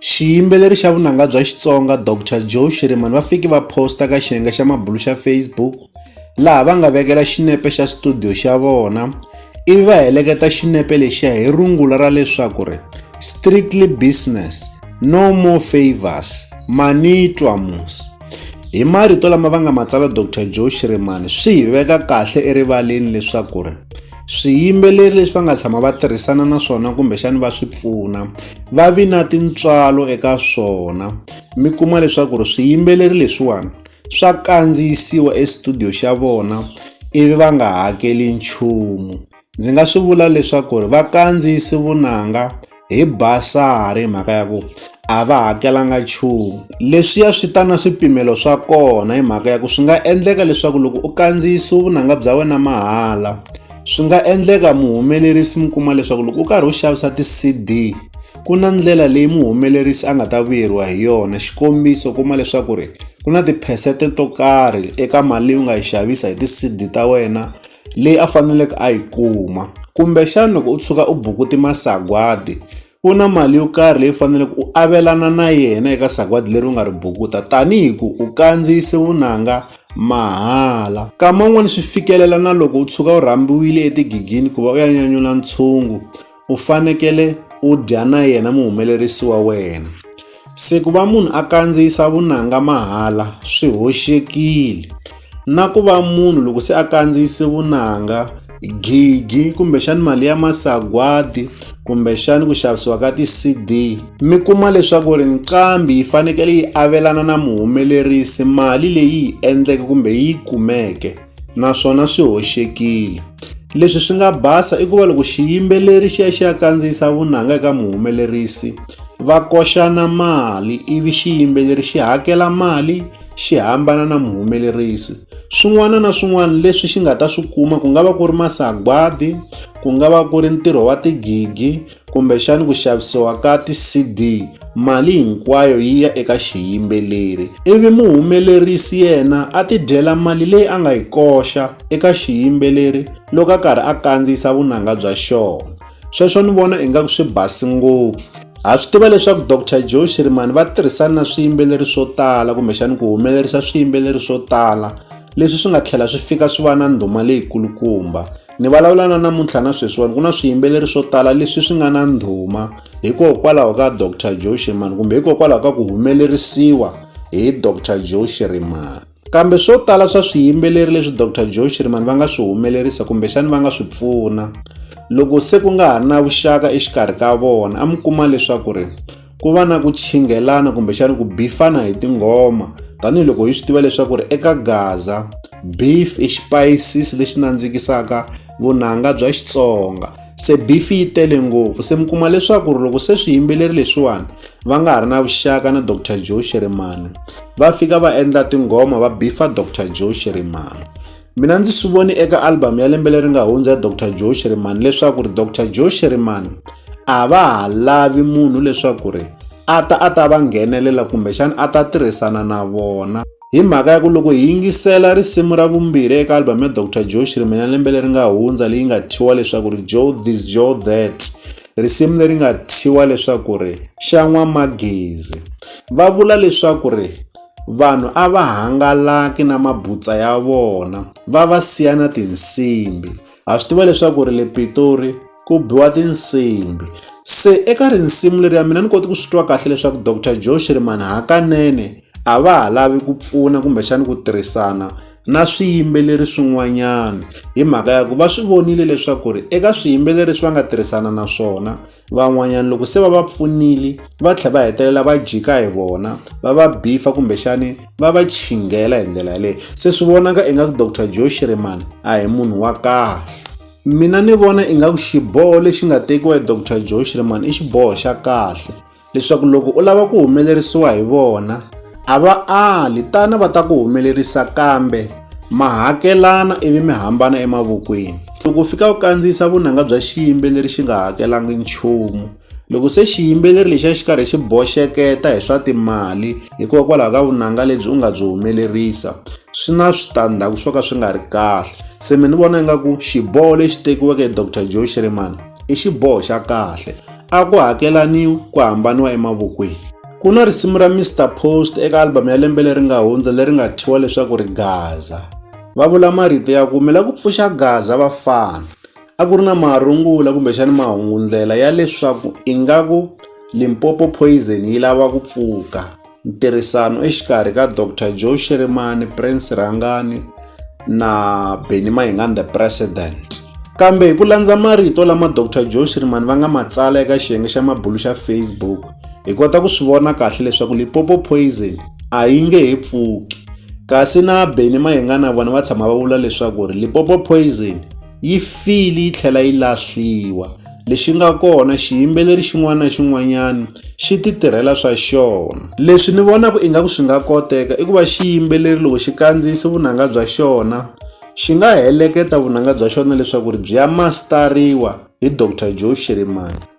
Xiyimbeleri xa vunanga bya Xitsonga Doctor Joe Shirimani va fiki va posta ka xiyenge xa mabulu xa Facebook laha va nga vekela xinepe xa studio xa vona ivi va heleketa xinepe lexiya hi rungula ra leswaku ri strictly business no more favors manitwa mus hi marito lama va nga matsala Doctor Joe Shirimani swi hi veka kahle erivaleni leswaku ri swiyimbeleri leswi va nga tshama va tirhisana na swona kumbexani va swi pfuna va vi na tintswalo eka swona mi kuma leswaku ri swiyimbeleri leswiwani swa kandziyisiwa estudio xa vona ivi va nga hakeli nchumu ndzi nga swi vula leswaku ri va kandziyisi vunanga hi basari hi mhaka ya ku a va hakelanga nchumu leswiya swi ta na swipimelo swa kona hi mhaka ya ku swi nga endleka leswaku loko u kandziyisiwe vunanga bya wena mahala swi nga endleka muhumelerisi mi kuma leswaku loko u karhi u xavisa ti-cd ku na ndlela leyi muhumelerisi a nga ta vuyeriwa hi yona xikombiso kuma leswaku ri ku na tiphesente to karhi eka mali leyi u nga yi xavisa hi ti-cd ta wena leyi a faneleke a yi kuma kumbexana loko u tshuka u bukuti masagwadi ku na mali yo karhi leyi faneleke u avelana na yena eka sagwadi leri u nga ri bukuta tanihi ku u kandziyise vunanga mahala kama un'wani swi fikelela na loko u tshuka u rhambiwile etigigini ku va u ya nyanyula ntshungu u fanekele u dya na yena muhumelerisi wa wena se ku va munhu a kandziyisa vunanga mahala swi hoxekile na ku va munhu loko se a kandziyise vunanga gigi kumbexani mali ya masagwadi kumbexani ku xavisiwa ka ti-cd mi kuma leswaku ri nqambi yi fanekele yi avelana na muhumelerisi mali leyi yi endleke kumbe yi kumeke naswona swi hoxekile leswi swi nga basa i ku va loko xiyimbeleri xi ya xi ya kandziyisa vunanga eka muhumelerisi va koxana mali ivi xiyimbeleri xi hakela mali xi hambana na muhumelerisi swin'wana na swin'wana leswi xi nga ta swi kuma ku nga va ku ri masagwadi ku nga va ku ri ntirho wa tigigi kumbexana ku xavisiwa ka ti-CD mali hinkwayo yi ya eka xiyimbeleri ivi muhumelerisi yena a tidyela mali leyi a nga yi koxa eka xiyimbeleri loko a karhi a kandziyisa vunanga bya xona sweswo ni vona ingaku swi basi ngopfu ha swi tiva leswaku dr joe shirimani va tirhisana na swiyimbeleri swo tala kumbexani ku humelerisa swiyimbeleri swo tala leswi swi nga tlhela swi fika swi va na ndhuma leyikulukumba Ni vulavula na namuntlha na sweswiwani ku na swiyimbeleri swo tala leswi swi nga na ndhuma hikokwalaho ka Dr Joe Shirimani kumbe hikokwalaho ka ku humelerisiwa hi Dr Joe Shirimani kambe swo tala swa swiyimbeleri leswi Dr Joe Shirimani va nga swi humelerisa kumbexani va nga swi pfuna loko se ku nga ha ri na vuxaka exikarhi ka vona a mi kuma leswaku ri ku va na ku chinghelana kumbexana ku bifana hi tinghoma tanihiloko hi swi tiva leswaku ri eka gaza beef i xipayisisi lexi nandzikisaka vunanga bya xitsonga se beef yi tele ngopfu se mi kuma leswaku ri loko se swiyimbeleri leswiwani va nga ha ri na vuxaka na dr joe sherimani va fika va endla tinghoma va bifa dr joe sherimani Mina ndzi swi voni eka album ya lembe leri nga hundza ya Dr Joe Shirimani leswaku ri Dr Joe Shirimani a va ha lavi munhu leswaku ri a ta a ta va nghenelela kumbexana a ta tirhisana na vona hi mhaka ya ku loko hi yingisela risimu ra vumbirhi eka album ya Dr Joe Shirimani ya lembe leri nga hundza leyi nga thiwa leswaku ri Joe this Joe that risimu leri nga thiwa leswaku ri xa n'wamagezi va vula leswaku ri Vanhu a va hangalaki na mabutsa ya vona va va siya na tinsimbi. Ha swi tiva leswaku ri le Pitori ku biwa tinsimbi. Se eka rinsimu leri ya mina ni koti ku swi twa kahle leswaku Doctor Joe Shirimani hakanene a va ha lavi ku pfuna kumbexani ku tirhisana na swiyimbeleri swin'wanyana hi mhaka ya ku va swi vonile leswaku ri eka swiyimbeleri leswi va nga tirhisana na swona van'wanyana loko se va va pfunile va tlhela va hetelela va jika hi vona va va bifa kumbexani va va chinghela hi ndlela yaleyo se swi vonaka ingaku dr joe shirimani a hi munhu wa kahle mina ni vona ingaku xiboho lexi nga tekiwa hi dr joe shirimani i xiboho xa kahle leswaku loko u lava ku humelerisiwa hi vona a va ali tana va ta ku humelerisa kambe ma hakelana ivi mi hambana emavokweni loko u fika u kandziyisa vunanga bya xiyimbeleri xi nga hakelanga nchumu loko se xiyimbeleri lexi a xi karhi xi boxeketa hi swa timali hikokwalaho ka vunanga lebyi u nga byi humelerisa swi na switandzhaku swo ka swi nga ri kahle se mi ni vona ingaku xiboho lexi tekiweke hi dr joe shirimani i xiboho xa kahle a ku hakelaniwi ku hambaniwa emavokweni Ku na risimu ra Mister Post eka album ya lembe leri nga hundza leri nga thyiwa leswaku ri Gaza. Va vula marito ya ku mi la ku pfuxa Gaza vafana. A ku ri na marungula kumbexana mahungundlela ya leswaku ingaku Limpopo Poison yi lava ku pfuka. Ntirhisano exikarhi ka Doctor Joe Shirimani, Prince Rhangani, na Benny Mayengani the President. Kambe hi ku landza marito lama Dr Joe Shirimani va nga ma tsala eka xiyenge xa mabulu xa Facebook, hi kota ku swi vona kahle leswaku Limpopo Poison a yi nge he pfuki. Kasi na Benny Mayengani na vona va tshama va vula leswaku ri Limpopo Poison yi file yi tlhela yi lahliwa lexi nga kona xiyimbeleri xin'wana na xin'wanyana xi ti tirhela swa xona leswi ni vonaka ingaku swi nga koteka i ku va xiyimbeleri loko xi kandziyise vunanga bya xona xi nga heleketa vunanga bya xona leswaku ri byi ya mastariwa hi Doctor Joe Shirimani